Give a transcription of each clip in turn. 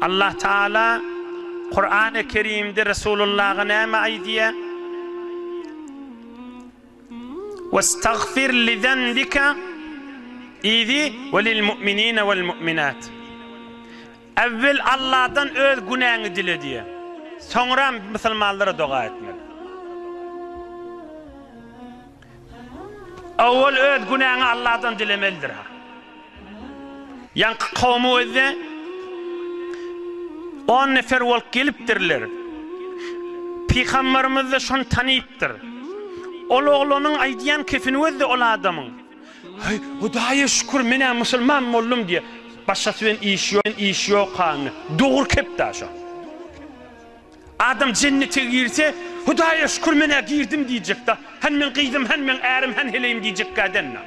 Allah Taala Kurany Kerimde Resulullaha näme aýdýar? Westagfir li zenbika idi we lil mu'minine wel mu'minat. Äwwel Allahdan öz günäňi dile diýýär. Soňra musulmanlara doga etmeli. Owal öz günäňi Alladan dilemelidir. Ýaňky kowum özde on nefer bolup gelipdirler. Pygamberimiz-de şony tanypdyr. Ol oglanyň aýdýan kefini özde ol adamyň. Heý, Hudaýa şükür, men-ä musulman boldum diýýär. Başgasy bilen işi ýok hany. Dogry kep-dä şo. Adam jennete girse, Hudaýa şükür men-ä girdim diýjekda, Hany meň gyzym, hany meň ärim, hany heleýim diýjekkä däl-la.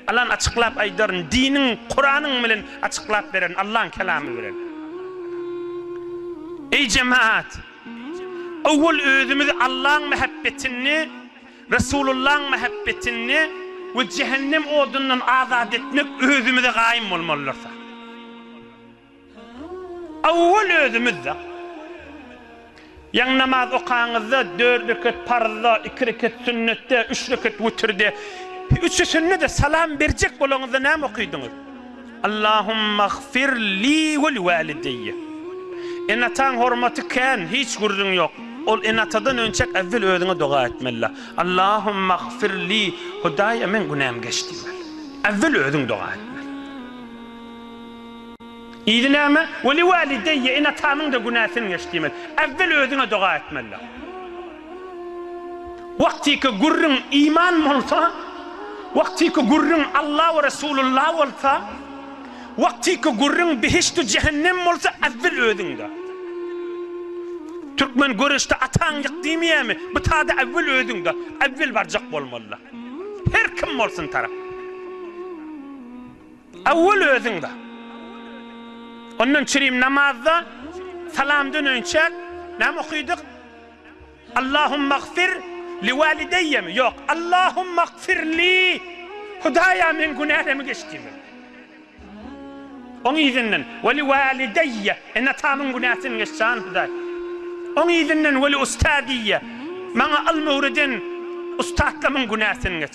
Alan açyklap aýdaryn, diniň, Kuranyň bilen açyklap beren, Allaň kelamy bilen. Eý jemaat! Owwal özümizi Allaň mähebbetini, Resulullaň mähebbetini we jehennem odundan azat etmek özümize gaýym bolmalydyr. Owwal özümiz-de. Ýaňy namaz okaňyzda, dört rekat parzda, iki rekat sünnetde, üç rekat wütirde, üçüsinde-de salam berjek bolaňyzda näme okydyňyz? Allahumagfir li weli walideýe. Ene-ataň hormaty kän, hiç gürrüň ýok. Ol ene-atadan önçäk äwwel özüňe doga etmeli. Allahumagfir li, Hudaýa meň günäm geç diýmeli. Äwwel özüň doga etmeli. Yzy näme? Weli walideýýe, ene-atamyň-da günäsin geç diýmeli. Äwwel özüňe doga etmelidir. Wagtyky gürrüň iman bolsa, wagtyky gürrüň Alla we Resulullah bolsa, wagtyky gürrüň behişdi jähennem bolsa äwwel özüňde. Türkmen göreşde ataň ýyk diýmeýärmi, bu tada äwwel özüňde, äwwel barjak bolmalydyr. Her kim bolsun tarap. Awwal özüňde. Ondan çirim namazda salam döneýinçäk näme okydyk? Allahumagfir liwalideýýemi? Ýok, Allahumagfirli, Hudaýa meň günälemi geç diýmeli. Oň yzyndan weliwalideýýe, ene-atamyň günäsini geç jan Hudaý. Oň yzyndan weliustadiýýe, maňa ylmy öwreden ussatlarymyň günäsini geç.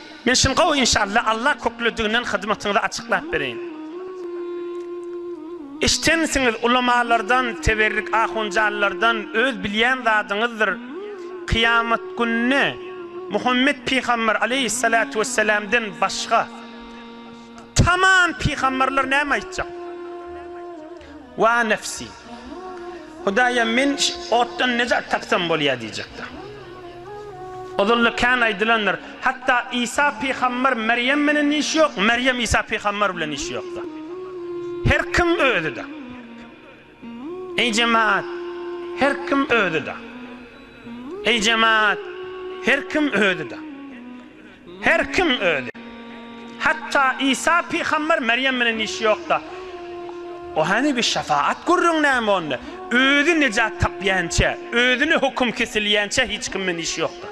Işin gowy inşallah Allah köklediginden hyzmatyňyzy açyklap bereýin. Eşdensiňiz ulamalardan teberrik ahunjanlardan öz bilýän zadyňyzdyr kyýamat gününe Muhammet pygamber aleýhissalatu wessalamden başga tamam pygamberler näme aýtjak. Wa nefsi. Hudaýym, men otdan nejat tapsam bolýar diýjekdir. Ozalda kän aýdylandyr, hatda Isa pygamber Merýem menen işi ýok, Merýem Isa pygamber bilen işi ýokdur. Her kim özüdir. Eý jemaat, her kim özüdir. Eý jemaat, her kim özüdir. Her kim özi. Hatda Isa pygamber Merýem bilen işi ýokda. O hany bir şefaat gürrüň näme onda? Özi nejat tapýança, özüne höküm kesilýänçä hiç kim bilen işi ýokda.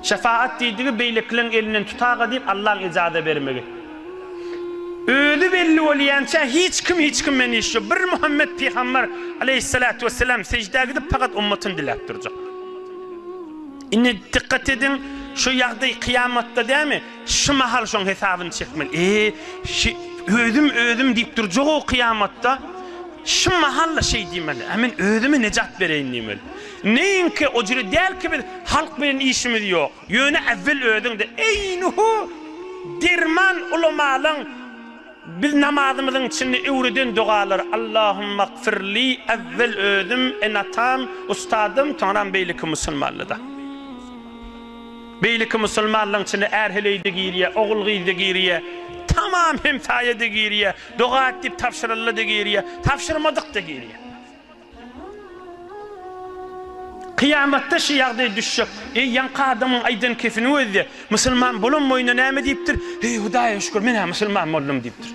Şefaat diýdigi beýlekileriň elinden tutaga diýip Allaň ejaza bermegi. Özi belli bolýança hiç kim hiç kim bilen işi ýok. Bir Muhammet pygamber aleýhissalatu wesselam sejdä gidip fakat ummatyny diläp durjak. Indi dykgat ediň, şu ýagdaý kyýamatda dämi? Şu mahal şoň hesabyny çekmeli. Eý, şi, özüm, özüm diýip durjak-ow kyýamatda. Şu mahal-la şeý diýmeli. Ä men özüme nejat bereýin diýmeli. Neýinki, o jüri däl ki biz, halk bilen işimiz ýok. Ýöne äwwel özüň-de, eýnuhu, derman ulamalaň. Biz namazymyzyň içinde öwreden dogalary Allahumagfirli Äwwel özüm, ene-atam, ustazym, soňram beýleki musulmanlyda. Beýleki musulmanlygyň içinde är-heleý-de girýär, ogul-gyz-da girýär, tamam hemsaýa-da girýär, doga et diýip tabşyryldy-da girýär, tabşyrmadyk-da girýär. Kyýamatda şu ýagdaý düşjek. Eý, ýaňky adamyň aýdan kefiniň özi-de, Musulman bolan boýuna näme diýipdir? Heý, Hudaýa şükür, men-ä musulman boldum diýipdir.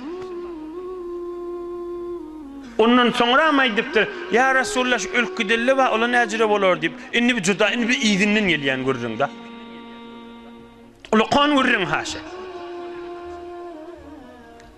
Ondan soňram aýdypdyr, Ýa Resulalla, şu ölüp gideli-de bar, ola näjüre bolar diýip. Indi bi juda, indi bi yzyndan gelýän gürrüň-dä. Ulakan gürrüň haşa.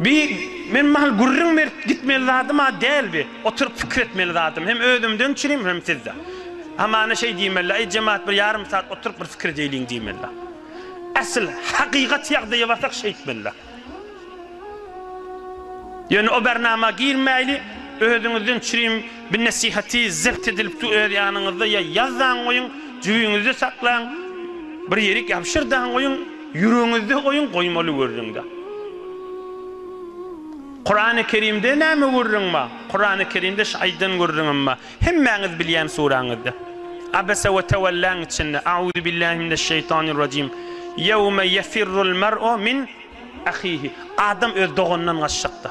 Bi, men mahal gürrüň berip gitmeli zadym-a däl bi, oturyp pikir etmeli zadym, hem özümden üçinem, hem sizde. Hamana şeý diýmeli-le, Aý, jemagat, bir ýarym sat oturyp bir pikir edeýliň diýmeli-le. Asyl, hakykat ýagdaýa barsak şeýtmeli-le. Ýöne o bernama girmäýli, özüňizden üçinem, Bu nesihaty zebt edilip du öz ýanyňyzda ýa ýaz daň goýuň, jübiňizde saklaň, bir ýerik ýabşyr daň goýuň, ýüregiňizde goýuň, goýmaly gürrüňde. Kurany Kerimde näme gürrüň bar? Kurany Kerimde şu aýdan gürrüňem bar. Hemmäňiz bilýän suraňyzda. Abese we tewelläň içinde, Auzubillahi mineşşeýtanirrajim. Ýewme ýefirrul mer'u min ahihi. Adam öz doganyndan gaçjakda.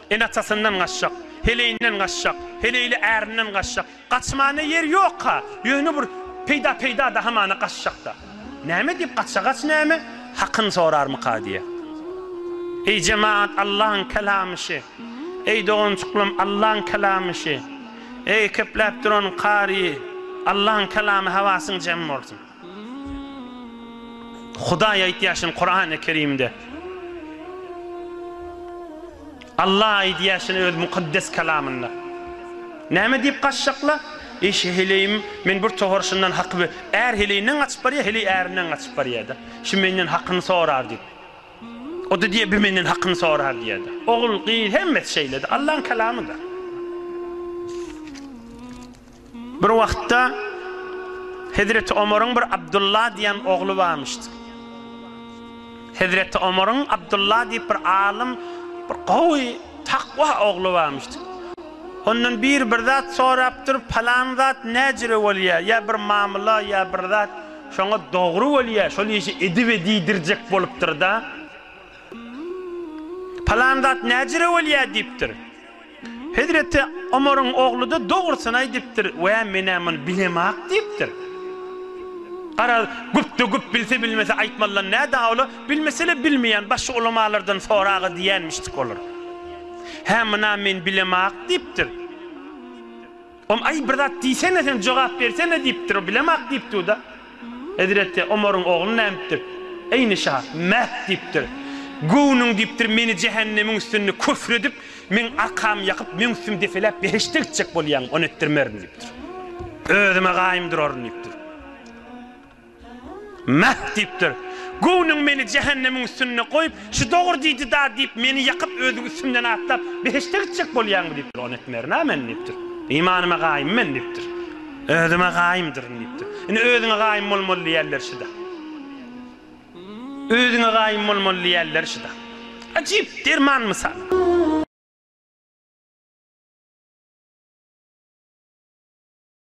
Ene-atasyndan gaçjak, heleýinden gaçjak, heleýli ärinden gaçjak. Gaçmana ýer ýok-a, ýöne bir peýda-peýda-da hamana gaçjak-da. Näme diýip gaça, gaç näme? Hakyny sorarmyka diýýä. Eý jemagat, Allaň kelamy şi. Eý doganjyklarym, Allaň kelamy şi. Eý köpläp duran kary, Allaň kelamy hawasyň jem bolsun. Hudaý aýtýar şuny Kurany Kerimde. Allah aýdýar şuny öz mukaddes kalamynda. Näme diýip gaçjakla? Eý şe heleýim, men bir towar şundan haky be, är heleýinden gaçyp barýar, heleý ärinden gaçyp barýar-da. Şu menden hakyny sorar diýip. O-da diýýär, bi menden hakyny sorar diýýär-de. Ogul, gyz hemmesi şeýle-de, Allaň kalamy-da. Bir wagtda Hezreti Omaryň bir Abdulla diýen ogly barmyşdy. Hezreti Omaryň Abdulla diýip bir alym, bir gowy, takwa ogly barmyşdy. Ondan biri bir zat sorapdyr, palan zat näjire bolýar, ýa bir mamyla, ýa bir zat şoňa dogry bolýar, şol işi edibe diýdirjek bolupdyr-da. Palan zat näjire bolýar diýipdir. Hezreti Omaryň ogly-da dogrusyny aýdypdyr, Wä, men-ä muny bilemok diýipdir. Garaz, güpde güp bilse bilmese aýtmalydan nä dawla, bilmese-le bilmeýän başga ulamalardan sora-a diýenmişdik olar. Hä, muny-a men bilemok diýipdir. Om, Aý, bir zat diýsene sen, jogap bersene, diýipdir. O bilemok diýipdiu-da. Hezreti Omaryň ogly nädipdir? Eýni şa, Mäh! diýipdir. Göwnüň, diýipdir, meni jähennemiň üstünde köfr edip, meň arkamy ýakyp, meň üstümi depeläp behişde gitjek bolýaňmy, ony etdirmerin, diýipdir. Özüm-ä gaýym duraryn, diýipdir. Mäh! diýipdir. Göwnüň meni jähennemiň üstünde goýup, şu dogry diýdi-da diýip, meni ýakyp, özüň üstümden atlap, behişde gitjek bolýaňmy? diýipdir. Ony etmerin-ä men, diýipdir. Imanyma gaýym men, diýipdir. Özüme gaýymdyryn, diýipdir. Indi özüňe gaýym bolmaly diýerler şyda. Özüňe gaýym bolmaly diýerler şyda. Ajyp derman mysal.